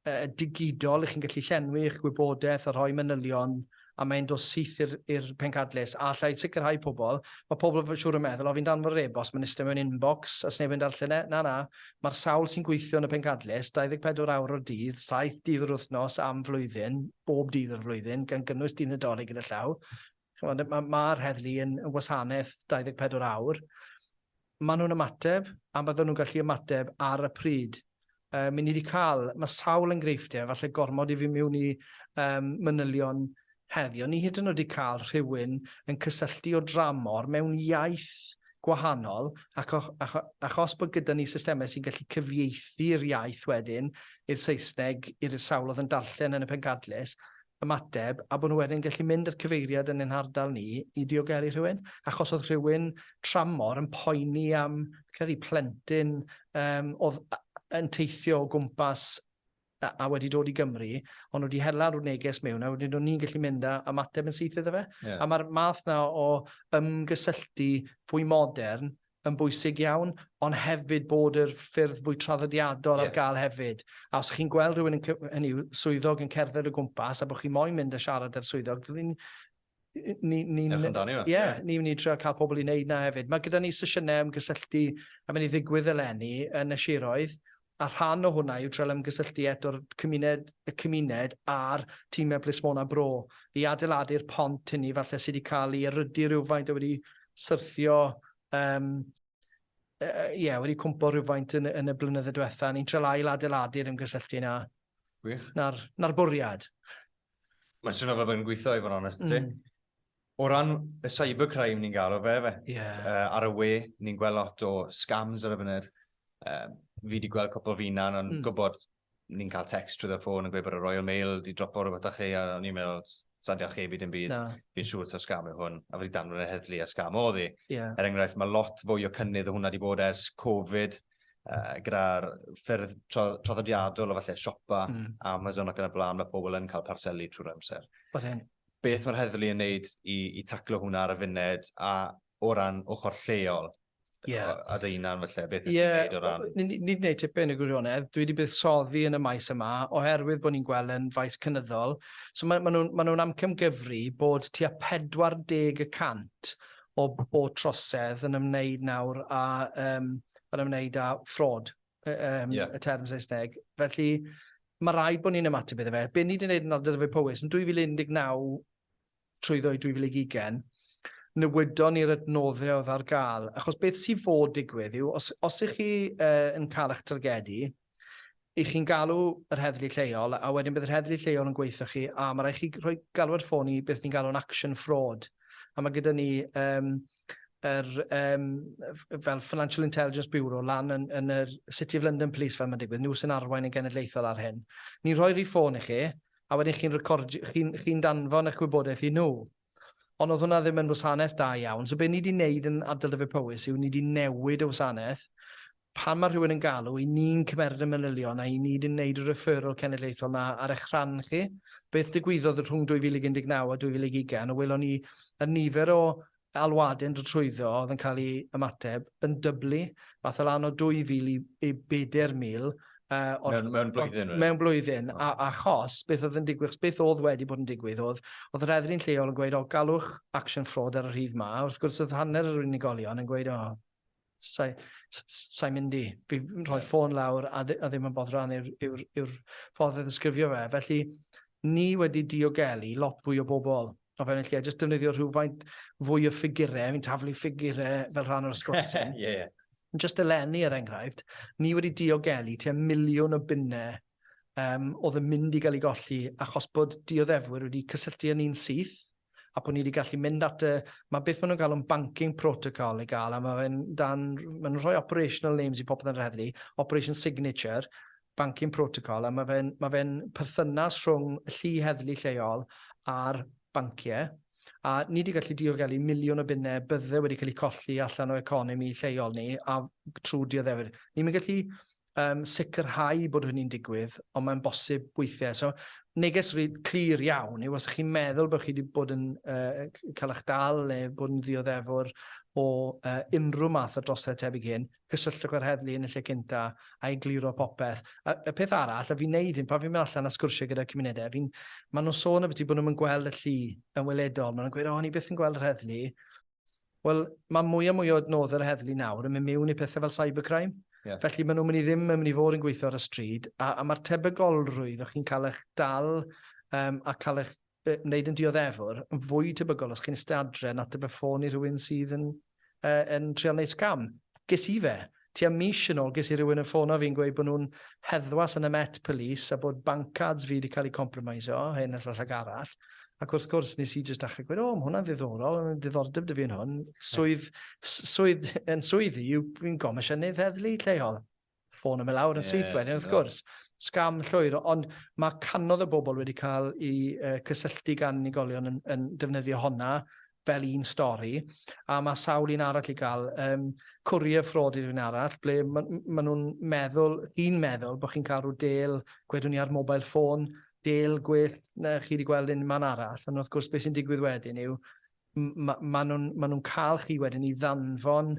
uh, digidol i chi'n gallu llenwi eich gwybodaeth a rhoi manylion a mae'n dod syth i'r pencadlys. A allai sicrhau pobl, mae pobl fy siŵr yn meddwl, o fi'n danfod yr e-bost, mae'n eistedd mewn inbox, a sneb yn darllen e. Na, na, mae'r sawl sy'n gweithio yn y pencadlys, 24 awr o'r dydd, 7 dydd yr wythnos am flwyddyn, bob dydd o'r flwyddyn, gan gynnwys dydd Nadolig yn y llaw, chimod, mae'r ma heddlu yn, yn wasanaeth 24 awr, maen nhw'n ymateb, a bydden nhw'n gallu ymateb ar y pryd. Uh, mi ni wedi cael, mae sawl enghreifftiau, falle gormod i fi mewn i um, manylion heddi, ond ni hyd yn oed wedi cael rhywun yn cysylltu o dramor mewn iaith gwahanol, ac, o, ac, ac os bod gyda ni systemau sy'n gallu cyfieithu'r iaith wedyn i'r Saesneg, i'r sawl oedd yn darllen yn y pencadlys, ymateb a bod nhw wedyn yn gallu mynd i'r cyfeiriad yn ein hardal ni i diogelu rhywun, achos oedd rhywun tramor yn poeni am, fi'n credu, plentyn um, oedd yn teithio o gwmpas a, a wedi dod i Gymru, ond wedi hela'r neges mewn, a wedyn o'n ni'n gallu mynd a ymateb yn syth iddo fe. Yeah. A mae'r math na o ymgysylltu fwy modern yn bwysig iawn, ond hefyd bod yr ffyrdd fwy traddodiadol ar gael hefyd. A os chi'n gweld rhywun yn, hynny yw, swyddog yn cerdded o gwmpas a bod chi moyn mynd a siarad â'r swyddog, ni'n... Ni, ni, Ewch amdani fe. Ie, ni'n mynd i trio cael pobl i wneud na hefyd. Mae gyda ni sesiynau ymgysylltu a mynd i ddigwydd eleni yn y siroedd, a rhan o hwnna yw trial ymgysylltu eto'r cymuned, y cymuned a'r timau plismona bro i adeiladu'r pont hynny falle sydd wedi cael ei erydu rhywfaint a wedi syrthio um, ie, uh, yeah, wedi cwmpo rhywfaint yn, yn y blynydde diwetha. Ni'n treul ail adeiladu'r ymgysylltu na. Gwych. Na'r, na bwriad. Mae'n
swnio fel bod yn gweithio i fod yn onest ti. Mm. O ran y cybercrime ni'n galw fe fe. Yeah. Uh, ar y we, ni'n gweld lot o scams ar y funud. Uh, fi wedi gweld cwpl fi na, ond mm. gwybod ni'n cael text trwy y ffôn yn gweud bod y Royal Mail wedi dropo rhywbeth â chi, a o'n i'n meddwl, sa'n diolch chi byd yn byd, fi'n siŵr ta'r scam yw hwn, a wedi danfod y heddlu a scam oedd i. Yeah. Er enghraifft, mae lot fwy o cynnydd o hwnna wedi bod ers Covid, uh, gyda'r ffyrdd traddodiadol o falle siopa, mm. Amazon ac yn y blaen, mae pobl yn cael parcelu trwy'r amser. Oedd e'n Beth mae'r heddlu yn wneud i, i taclo hwnna ar y funed, a o ran ochr lleol? Yeah. A dy unan felly, beth ydych yeah. chi'n gwneud o ran? Ni wedi gwneud tipyn y
gwirionedd. Dwi wedi buddsoddi yn y maes yma oherwydd bod ni'n gweld yn faes cynyddol. So mae, mae nhw'n ma nhw amcamgyfru bod tua 40 y cant o bod trosedd yn ymwneud nawr a, um, yn ymwneud â ffrod um, yeah. y term Saesneg. Felly, mae rhaid bod ni'n ymateb iddo fe. Be ni wedi gwneud yn Ardal Dyfai Powys yn 2019 trwy ddwy 2020, newydon ni'r adnoddau oedd ar gael. Achos beth sy'n fod digwydd yw, os, os ych chi uh, yn cael eich targedu, i chi'n galw yr heddlu lleol, a wedyn bydd yr heddlu lleol yn gweithio chi, a mae rhaid chi rhoi galw ar ffôn i beth ni'n galw'n action fraud. A mae gyda ni um, yr, um, fel Financial Intelligence Bureau, lan yn, yn yr City of London Police fel mae'n digwydd, nhw sy'n arwain yn genedlaethol ar hyn. Ni'n rhoi rhi ffôn i chi, a wedyn chi'n chi, chi danfon eich gwybodaeth i nhw. Ond oedd hwnna ddim yn wasanaeth da iawn. So be ni wedi wneud yn ardal Dyfed Powys yw ni wedi newid y wasanaeth Pan mae rhywun yn galw, y'n ni'n cymeryd y manylion a y'n ni di wneud y referral cenedlaethol 'na ar eich rhan chi. Beth ddigwyddodd rhwng 2019 a 2020, o welon ni y nifer o alwade'n dod trwyddo oedd yn cael ei ymateb yn dyblu, ath e lan o 2,000 i i 4,000 yy o'r... Mewn mewn blwyddyn wedyn? Mewn blwyddyn. A achos beth oedd yn digwydd, achos beth oedd wedi bod yn digwydd oedd, oedd yr heddlu'n lleol yn gweud, 'O, galwch action fraud ar y rhif 'ma', wrth gwrs oedd hanner yr unigolion yn gweud, 'O, sai, sai mynd i. Fi rhoi ffôn lawr a, a ddim yn bodd rhan yw'r yw, yw ffordd o ddisgrifio fe. Felly, ni wedi diogelu lot fwy o bobl o fewn y lle, jyst defnyddio rhywfaint fwy o ffigurau, fi'n taflu ffigurau fel rhan o'r sgwrs. yeah, yeah. Just eleni, er enghraifft, ni wedi diogelu tua miliwn o bunnau um, oedd yn mynd i gael ei golli achos bod dioddefwyr wedi cysylltu â ni'n syth a bod ni wedi gallu mynd at y... mae beth maen nhw'n galw'n banking protocol i gael, a mae fe'n dan... maen nhw'n rhoi operational names i popeth yn yr heddlu, operation signature, banking protocol, a mae fe'n ma fe perthynas rhwng y llu heddlu lleol a'r banciau, a ni wedi gallu diogelu miliwn o bunnau bydde wedi cael eu colli allan o economi lleol ni a trwy dioddefwyr. Ni'n mynd gallu um, sicrhau bod hynny'n digwydd, ond mae'n bosib weithiau. So, neges rhi clir iawn yw os chi'n meddwl bod chi wedi bod yn uh, cael eich dal neu bod yn ddioddefwr o uh, unrhyw math o drosedd tebyg hyn, cysylltwch â'r heddlu yn y lle cynta a i gliro popeth. A, y peth arall, a fi'n neud hyn, pan fi'n mynd allan a sgwrsio gyda cymunedau, fi'n, maen nhw'n sôn y beth i bod nhw'n gweld y llu yn weledol. Maen nhw'n gweud, o, ni beth yn gweld yr heddlu, Wel, mae mwy a mwy o adnoddau yr heddlu nawr yn mynd miwn i pethau fel cybercrime. Yeah. Felly maen nhw'n mynd i ddim yn mynd i fod yn gweithio ar y stryd, a, a mae'r tebygolrwydd o chi'n cael eich dal um, a cael eich uh, wneud yn dioddefwr yn fwy tebygol os chi'n ystadre yn ateb y ffôn i rhywun sydd yn, uh, yn trial wneud scam. Ges i fe, Tua mis yn ôl ges i rywun yn ffono fi yn gweud bod nhw'n heddwas yn y Met Police a bod banc cards fi wedi cael eu compromisio, hyn a llall ac arall. Ac wrth gwrs, nes i jyst dachrau gweud, o, mae hwnna'n ddiddorol, yn diddordeb dy fi yn hwn. Swydd, swydd, yn swydd i, fi'n gomisiynydd heddlu lleol ffôn am y lawr yn syth wedyn, wrth gwrs. Sgam llwyr, ond mae canodd y bobl wedi cael eu uh, cysylltu gan unigolion yn, yn defnyddio honna fel un stori, a mae sawl un arall i gael. Um, Courier Fraud yw'r un arall, ble maen ma nhw'n meddwl, chi'n meddwl bod chi'n cael rhyw del, gwedwn ni ar mobile ffôn, del gwell na chi wedi gweld yn man arall, ond wrth gwrs beth sy'n digwydd wedyn yw, mae ma nhw'n ma nhw cael chi wedyn i ddanfon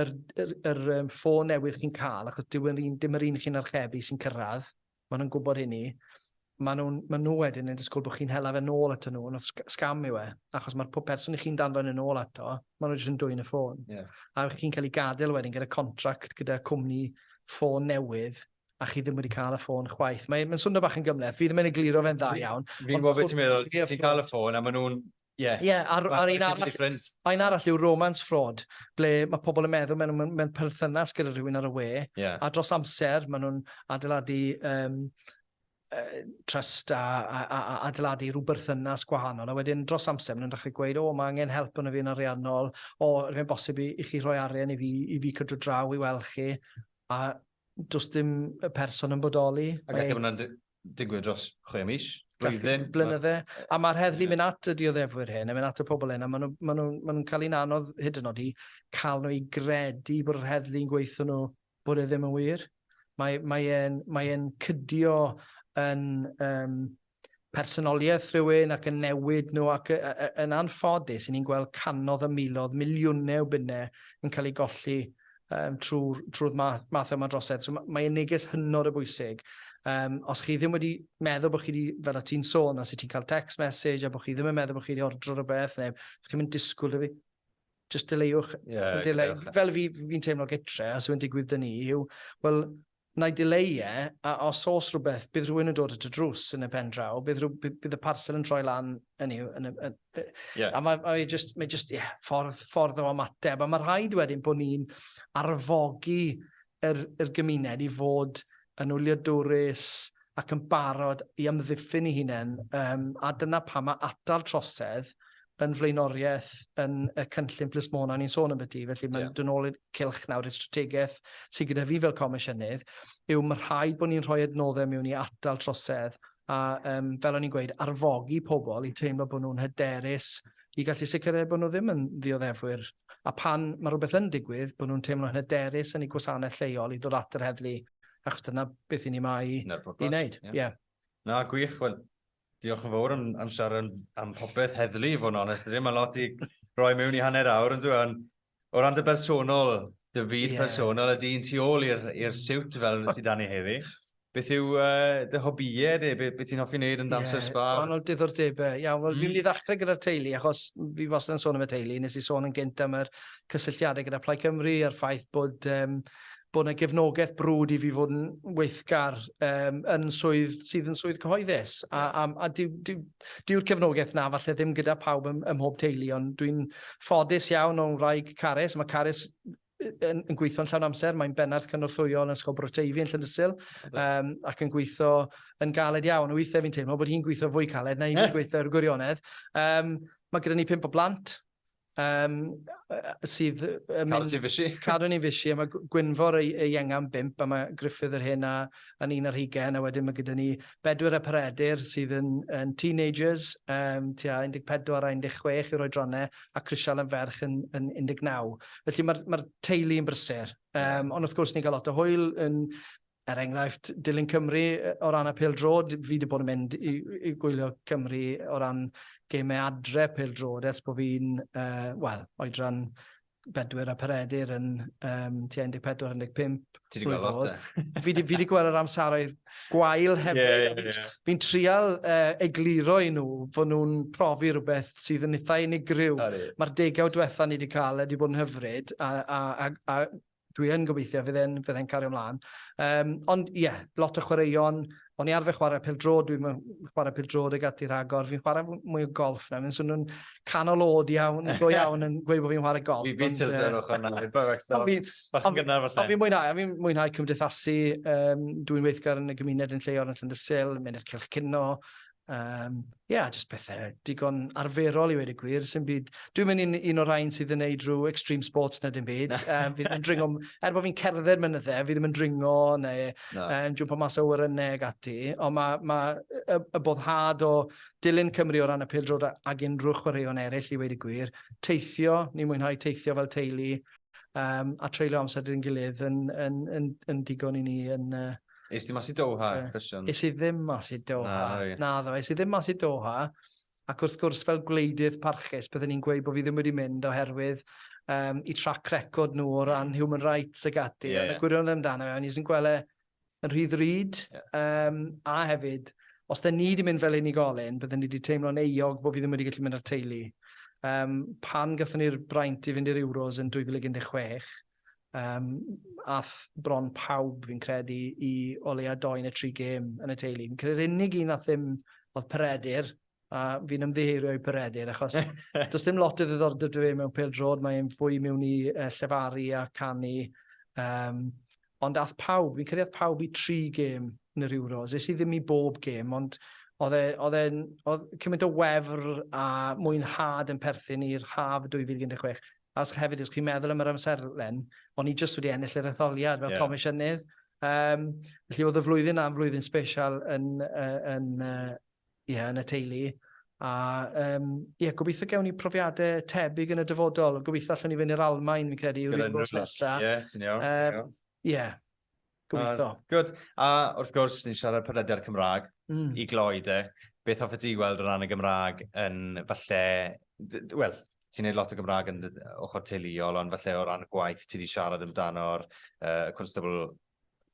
yr, yr, yr, yr ffôn newydd chi'n cael, achos dim yr un, dim yr un chi'n archebu sy'n cyrraedd, Maen nhw'n gwybod hynny. Maen nhw, maen nhw wedyn yn disgwyl bod chi'n hela fe nôl ato nhw, ond scam yw e, achos mae'r pob person i chi'n danfod yn ôl ato, maen nhw jyst yn dwy'n y ffôn. Yeah. A chi'n cael ei gadael wedyn gyda contract, gyda cwmni ffôn newydd, a chi ddim wedi cael y ffôn chwaith. Mae'n mae swnio bach yn gymleth, fi ddim yn egluro fe'n dda iawn. Fi'n gwybod beth ti'n meddwl,
ti'n cael y ffôn a maen nhw'n Ie. Ie, a'r, a'r un arall,
un arall yw romance fraud, ble mae pobl yn meddwl mewn, mewn, mewn perthynas gyda rhywun ar y we, yeah. a dros amser maen nhw'n adeiladu um, uh, trust a, a, a, a adeiladu rhyw berthynas gwahanol, a wedyn dros amser maen nhw'n dechrau gweud, o, mae angen help yn y fi'n ariannol, o, rwy'n bosib i, i chi rhoi arian i fi, i fi cydro draw i weld chi, a does dim y person yn bodoli. Ac mae...
digwydd dros chwe mis, blwyddyn. Blynydde. A
mae'r heddlu mynd at y dioddefwyr hyn, yn mynd at y pobl hyn, a maen nhw'n ma nhw, ma nhw cael un anodd hyd yn oed i cael nhw i gredu bod yr heddlu'n gweithio nhw bod e ddim yn wir. Mae, mae, e'n, mae e'n cydio yn um, personoliaeth rhywun ac yn newid nhw ac yn anffodus, ni'n gweld canodd y milodd, miliwnau o bunnau yn cael ei golli um, trwy'r trwy math, math yma drosedd. So mae e'n neges hynod o bwysig. Um, os chi ddim wedi meddwl bod chi wedi, fel o ti'n sôn, os ti'n cael text message a bod chi ddim yn meddwl bod chi wedi ordro rhywbeth, neu chi ddim yn disgwyl i fi, just deleiwch. Yeah, delay. Fel fi, fi'n teimlo gytre, a sy'n digwydd dyn ni, yw, wel, Nai dileu e, a os o's rhywbeth, bydd rhywun yn dod at y drws yn y pen draw, bydd rhyw, bydd, bydd y parsel yn troi lan, hynny yw, yn y, yn, y- Ie. a mae, mae just, mae just, ie, ffordd, ffordd o ymateb, a mae rhaid wedyn bod ni'n arfogi yr, yr gymuned i fod yn wyliadwrus ac yn barod i amddiffyn i hunain, um, a dyna pam mae atal trosedd yn flaenoriaeth yn y cynllun plismona o'n i'n sôn ambyti, felly mae'n yeah. dod nôl i'r cilch nawr, i'r strategaeth sydd gyda fi fel comisiynydd, yw mae rhaid bod ni'n rhoi adnoddau mewn i atal trosedd a um, fel o'n i'n gweud, arfogi pobl i teimlo bod nhw'n hyderus i gallu sicrhau bod nhw ddim yn ddioddefwyr. A pan mae rhywbeth yn digwydd, bod nhw'n teimlo'n hyderus yn ei gwasanaeth lleol i ddod at yr heddlu, achos dyna beth i ni mae i wneud. Yeah. yeah. Na,
gwych. Wel, Diolch yn fawr am, am siarad am popeth heddlu, i fod yn onest. Mae'n lot i roi mewn i hanner awr, ond dwi'n o ran dy bersonol, dy fyd yeah. personol, a dyn tu ôl i'r siwt fel sydd dan ni heddi. Beth yw uh, dy hobïau di? Beth be ti'n hoffi wneud yn damser yeah, spa? Wahanol diddordebau.
Ia, wel, mm. fi'n mynd i ddechrau gyda'r teulu, achos fi wastad yn sôn am y teulu. Nes i sôn yn gynt am yr cysylltiadau gyda Plaid Cymru a'r ffaith bod um, bod yna gefnogaeth brwd i fi fod yn weithgar um, yn swydd sydd yn swydd cyhoeddus. A, a, a dyw'r dyw, dyw cefnogaeth na falle ddim gyda pawb ym, ym mhob teulu, ond dwi'n ffodus iawn o'n wraig Carys. Mae Carys yn, yn gweithio'n llawn amser, mae'n bennarth cynorthwyol yn Ysgol Broteifi yn Llynysil, um, ac yn gweithio yn galed iawn. Weithiau fi'n teimlo bod hi'n gweithio fwy caled na i'n gweithio ar gwirionedd. Um, mae gyda ni pimp o blant, Um, sydd... Um, Cadw'n i'n fysi. Cadw'n i'n fysi, a mae Gwynfor ei, ei engan bimp, a mae Griffith yr hyn a, a'n un ar hugen, a wedyn mae gyda ni bedwyr a paredir sydd yn, yn teenagers, um, tua 14 a 16 yw'r oedronau, a Crisial yn ferch yn, yn 19. Felly mae'r mae teulu yn brysur. Um, ond wrth gwrs ni'n cael lot o hwyl yn Er enghraifft, dilyn Cymru o ran y pêl-droed, fi wedi bod yn mynd i, i gwylio Cymru o ran gemau adre pêl-droed ers bod fi'n, uh, wel, oedran bedwyr a peredur yn um, tua 14-15. Ti wedi gweld
lot e? Fi wedi gweld
yr amseroedd gwael hefyd. Yeah, yeah, yeah. Fi'n fi trial uh, egluro i nhw fod nhw'n profi rhywbeth sydd yn eithaf unigryw. Mae'r degawd diwetha ni wedi cael, wedi bod yn hyfryd, a, a, a, a dwi yn gobeithio fydd e'n fydd e'n cario mlaen. Um, ond ie, yeah, lot o chwaraeon. O'n i arfer chwarae pel dro, dwi'n chwarae pel dro dy gati rhagor. Fi'n chwarae mwy o golf nawr. Fi'n swnio'n canol oed iawn, go iawn yn gweud bod fi'n chwarae golf. Fi fi'n tildo ar ochr
na. Ond fi'n mwynhau,
fi'n mwynhau cymdeithasu. Um, dwi'n weithgar yn y gymuned yn lleol yn Llandysil, mynd i'r cylch cynno, Um, yeah, just pethau digon arferol i wedi gwir. Sy'n byd... Dwi'n mynd un, un o'r rhain sydd yn neud rhyw extreme sports na dim byd. um, fi ddim yn dringo... Er bod fi'n cerdded mynyddau, fi ddim yn dringo neu no. um, jump o mas o wyrynnau ag ati. Ond mae ma, y, y boddhad o dilyn Cymru o ran y pildrod ag unrhyw chwaraeon eraill i wedi gwir. Teithio, ni'n mwynhau teithio fel teulu um, a treulio amser dyn gilydd yn, yn, yn, yn, yn digon i ni yn, uh, Eis ti mas i Doha,
cwestiwn? Eis i ddim mas i
Doha. Na, ddo, eis i ddim mas i Doha. Ac wrth gwrs, fel gwleidydd parchus, byddwn ni'n gweud bod fi ddim wedi mynd oherwydd um, i trac record nhw o ran human rights ag ati. Yeah, yeah. Gwirion ddim dan, o'n i'n gweld e yn rhy ddrud. Yeah. Um, a hefyd, os da ni wedi mynd fel unigolyn, byddwn ni wedi teimlo'n euog bod fi ddim wedi gallu mynd â'r teulu. Um, pan gatho ni'r braint i fynd i'r Euros yn 2016, Yym, ath bron pawb, fi'n credu, i o leia dou neu tri gêm yn y teulu. Fi'n credu'r unig un ath ddim oedd Peredur, a fi'n ymddiheurio i Peredur, achos does dim lot o ddiddordeb dy fe mewn pel drod, mae'n fwy mewn i uh, llefaru a canu. Um, ond ath pawb, fi'n credu ath pawb i tri gêm yn yr Euros. Ys i ddim i bob gêm, ond oedd e, e, cymaint o wefr a mwynhad yn perthyn i'r haf 2016. Os chi hefyd, os chi'n meddwl am yr amserlen, o'n i jyst wedi ennill yr etholiad fel yeah. comisiynydd. Um, felly oedd y flwyddyn na'n flwyddyn special yn, uh, yn, uh, yeah, yn y teulu. A um, yeah, gobeithio gewn ni profiadau tebyg yn y dyfodol. Gobeithio allwn ni fynd i'r Almain, fi'n credu, yw'r un bwrs nesaf. Ie, ti'n iawn.
Ie,
Gobeithio. Uh, good.
A wrth gwrs, ni'n siarad podlediad Cymraeg mm. i gloi de. Beth hoffe ti weld o ran y Gymraeg yn falle... Wel, ti'n neud lot o Gymraeg yn ochr teuluol, ond falle o ran y gwaith ti wedi siarad amdano'r uh, constable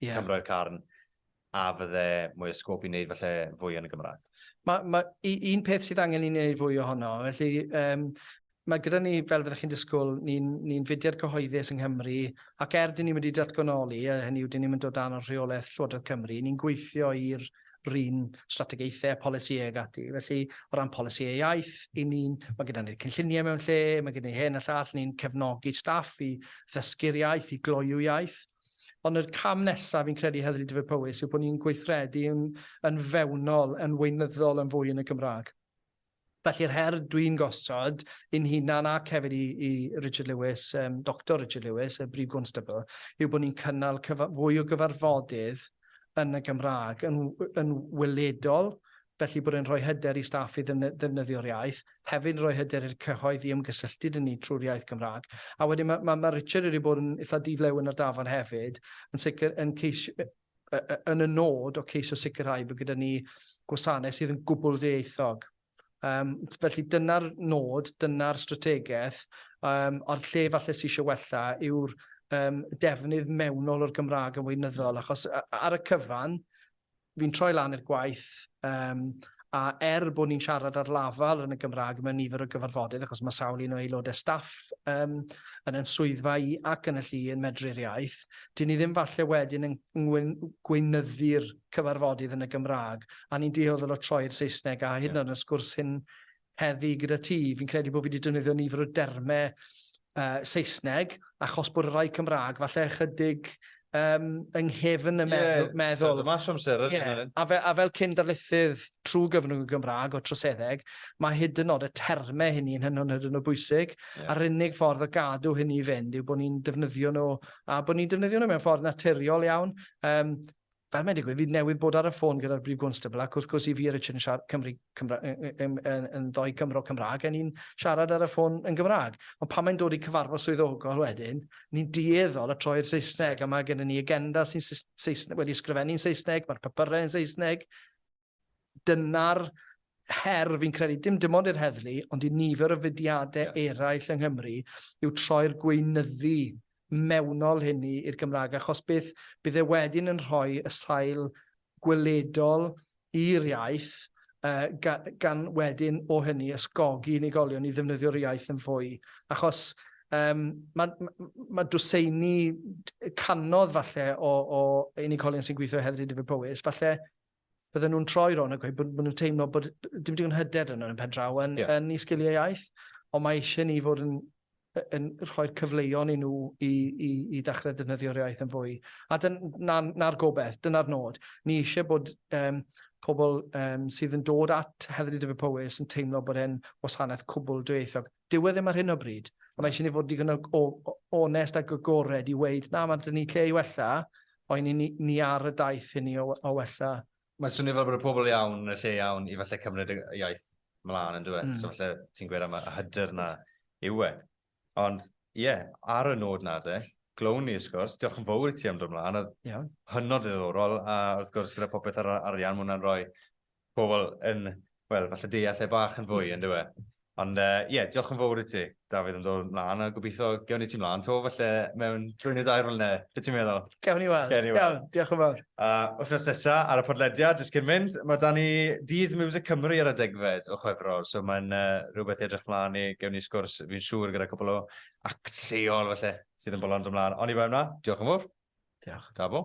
yeah. Cymro'r carn, a fydde mwy o sgwp i wneud falle fwy yn y Gymraeg? Mae ma, un
peth sydd angen i wneud fwy ohono, felly um, Mae gyda ni, fel fyddech chi'n disgwyl, ni'n ni fudiad cyhoeddus yng Nghymru ac er dyn ni wedi datganoli, a hynny yw dyn ni'm yn dod dan o'r rheolaeth Llywodraeth Cymru, ni'n gweithio i'r run strategaethau a polisïau ag ati. Felly, o ran polisïau iaith, i ni'n, mae gyda ni'r cynlluniau mewn lle, mae gyda ni hyn a llall, ni'n cefnogi staff i ddysgu'r iaith, i gloyw iaith. Ond yr cam nesaf fi'n credu Heddlu Dyfed Powys yw bod ni'n gweithredu yn, yn fewnol, yn weinyddol yn fwy yn y Gymraeg. Felly'r her dwi'n gosod i'n hunan ac hefyd i, i Richard Lewis, um, Doctor Richard Lewis, y Brif Gwnstabl, yw bod ni'n cynnal fwy o gyfarfodydd yn y Gymraeg, yn, yn weledol, felly bod e'n rhoi hyder i staff i ddefnyddio'r iaith, hefyd yn rhoi hyder i'r cyhoedd i ymgysylltu dyn ni trwy'r iaith Gymraeg. A wedyn mae, mae, mae Richard wedi bod yn eitha diflew yn yr dafod hefyd, yn sicr yn ceisio, yn y nod o ceisio sicrhau bod gyda ni gwasanaeth sydd yn gwbl ddieithog. Um, felly dyna'r nod, dyna'r strategaeth, um, a'r lle falle sy'n eisiau wella yw'r um, defnydd mewnol o'r Gymraeg yn weinyddol, achos ar y cyfan, fi'n troi lan i'r gwaith, um, a er bod ni'n siarad ar lafel yn y Gymraeg mewn nifer o gyfarfodydd, achos mae sawl un o aelodau staff um, yn yn swyddfa i ac yn y llu yn medru'r iaith, 'dyn ni ddim falle wedyn yn gweinyddu'r cyfarfodydd yn y Gymraeg, a ni'n dueddol o troi i'r Saesneg, a hyd yn oed yn y sgwrs hyn heddi gyda ti, fi'n credu bod fi wedi defnyddio nifer o dermau uh, Saesneg, achos bod y rhai Cymraeg falle ychydig um, yng nghefn y meddwl. Yeah, meddwl. So, mas amser. Yeah. A, fe, a fel cyn darlithydd, trwy gyfrwng y Gymraeg o'r troseddeg, mae hyd yn nod y termau hynny yn hynod hyd yn o bwysig, yeah. a'r unig ffordd o gadw hynny i fynd yw bod ni'n defnyddio nhw, a bod ni'n defnyddio nhw mewn ffordd naturiol iawn. Um, fel mae'n digwydd, fi newydd bod ar y ffôn gyda'r Brif Gwnstabl, ac wrth gwrs i fi a Richard yn siarad Cymru, Cymra, yn, yn, yn ddoi Cymro Cymraeg, a ni'n siarad ar y ffôn yn Gymraeg. Ond pan mae'n dod i cyfarfod swyddogol wedyn, ni'n dueddol y troi'r Saesneg, a mae gennym ni agenda sy'n Saesneg, wedi sgrifennu'n Saesneg, mae'r papurau yn Saesneg, Dyna'r her fi'n credu, dim dim ond i'r heddlu, ond i nifer o fudiadau yeah. eraill yng Nghymru, yw troi'r gweinyddu mewnol hyn i'r Gymraeg, achos bydd, bydd e wedyn yn rhoi y sail gweledol i'r iaith, uh, gan, gan wedyn o hynny ysgogi unigolion i ddefnyddio'r iaith yn fwy, achos Um, mae, mae dwseini canodd falle o, o unigolion sy'n gweithio heddlu Dyfed Powys, falle bydden nhw'n troi ro'n a gweud bod, bod nhw'n teimlo bod dim digon hyder yn yn pen draw yn, yeah. yn i sgiliau iaith, ond mae eisiau ni fod yn, yn rhoi'r cyfleon i nhw i, i, i ddechrau defnyddio'r iaith yn fwy. A na'r na gobeith, dyna'r nod. Ni eisiau bod um, pobl um, sydd yn dod at Heddlu Dyfed Powys yn teimlo bod e'n wasanaeth cwbl dwyieithog. Dyw e ddim ar hyn o bryd. Ond mae eisiau ni fod digon o onest ac agored i weud, na, mae dyn ni lle i wella, ond ni, ni, ni ar y daith hynny o, o wella. Mae'n swnio fel bod y
pobl iawn yn y lle iawn i falle cymryd y iaith mlaen yn dweud. Mm. So falle ti'n gweud am y hyder na yw e. Ond ie, yeah, ar y nod na de, glown ni ysgwrs, diolch yn fawr i ti am dod mlaen, oedd yeah. hynod ddiddorol, a wrth gwrs gyda popeth ar arian, mae hwnna'n rhoi pobl yn, wel, falle deall lle bach yn fwy, yn dweud. Ond ie, uh, yeah, diolch yn fawr i ti, Dafydd, yn dod mlaen, a gobeithio gewn i ti mlaen to, falle mewn drwy nid air fel ne, beth ti'n meddwl? Gewn i weld, gewn,
diolch yn fawr. A uh, wythnos nesa,
ar y podlediad, jyst cyn mynd, mae dan ni dydd Music Cymru ar y degfed o chwefrol, so mae'n uh, rhywbeth edrych mlaen i, gewn ni sgwrs, fi'n siŵr, gyda cwbl o act lleol, falle, sydd yn bolon dod mlaen. Ond i fe yna, diolch yn fawr. Diolch. Da bo.